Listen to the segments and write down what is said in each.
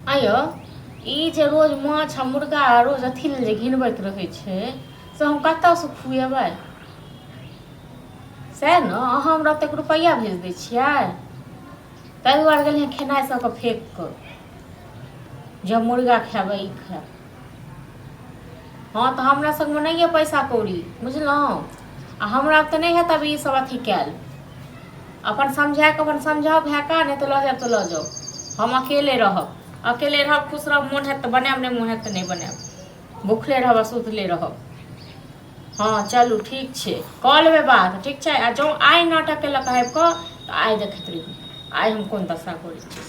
आयो ई जे रोज माछ आ मुर्गा आ रोज अथी लेल जे घिनबैत रहै छै से हम कतयसँ खुएबै सएह ने अहाँ हमरा ओतेक रुपैआ भेज दै छियै ताहि दुआरे गेलियै खेनाइ सबके फेक कऽ जब मुर्गा खाएब ई खाएब हँ तऽ हमरा सङ्गमे नहि यए पैसा कौड़ी बुझलहुँ आ हमरा तऽ नहि हेत अभी ईसभ अथी कयल अपन समझा कऽ अपन समझाउ भए कऽ नहि तऽ लऽ जायब तऽ लऽ जाउ हम अकेले रहब अकेले रहब खुश रहब मोन हेत तऽ बनायब नहि मोन हेत तऽ नहि बनायब भुखले रहब आ सुतले रहब हँ चलू ठीक छै कऽ लेबै बात ठीक छै आ जँ आइ नाटक केलक आबि कऽ तऽ आइ देखैत रहियै आइ हम कोन दशा करै छी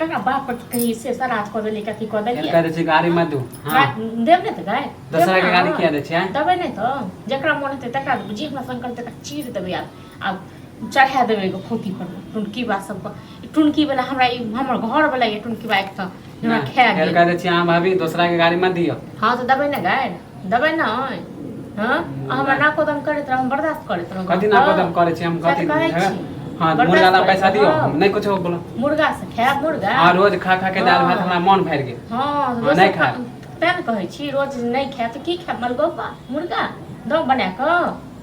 तोरा बाप पर कही से सरात कऽ देली कथी कऽ देली इनका जे छै गाड़ी मत दू हाँ देब ने तऽ गाय दोसरा के गाड़ी किया दै छियै देबै नहि तऽ जकरा मोन हेतै तकरा देबै जे हमरा संकल्प तकरा चीर देबै आब आब चढ़ा देबै एगो पोथी पर टुनकी बा सबके टुनकी वाला हमरा ई हमर घर वाला ये टुनकी बा एक तऽ हमरा खाए गेल इनका जे छै अहाँ भाभी दोसरा के गाड़ी मत दियो हाँ तऽ देबै ने गाय देबै ने हँ अहाँ हमरा नाको दम करैत रहब हम बर्दाश्त करैत रहब कथी ना कदम करे छी हम सएह कथी तऽ कहै झगड़ा- छी। हाँ बर्दाश्त मुर्गा ला करैत पैसा दियो रहब। नहीं कुछ बोलो मुर्गा से खायब मुर्गा हाँ रोज खा खा के दाल भात हाँ। हमरा मन भर गेल हँ हाँ, दोसर नहि खा- खायब। तेँ ने कहै छी रोज नहि खायब तऽ की खायब मलगोपा मुर्गा दम बना कऽ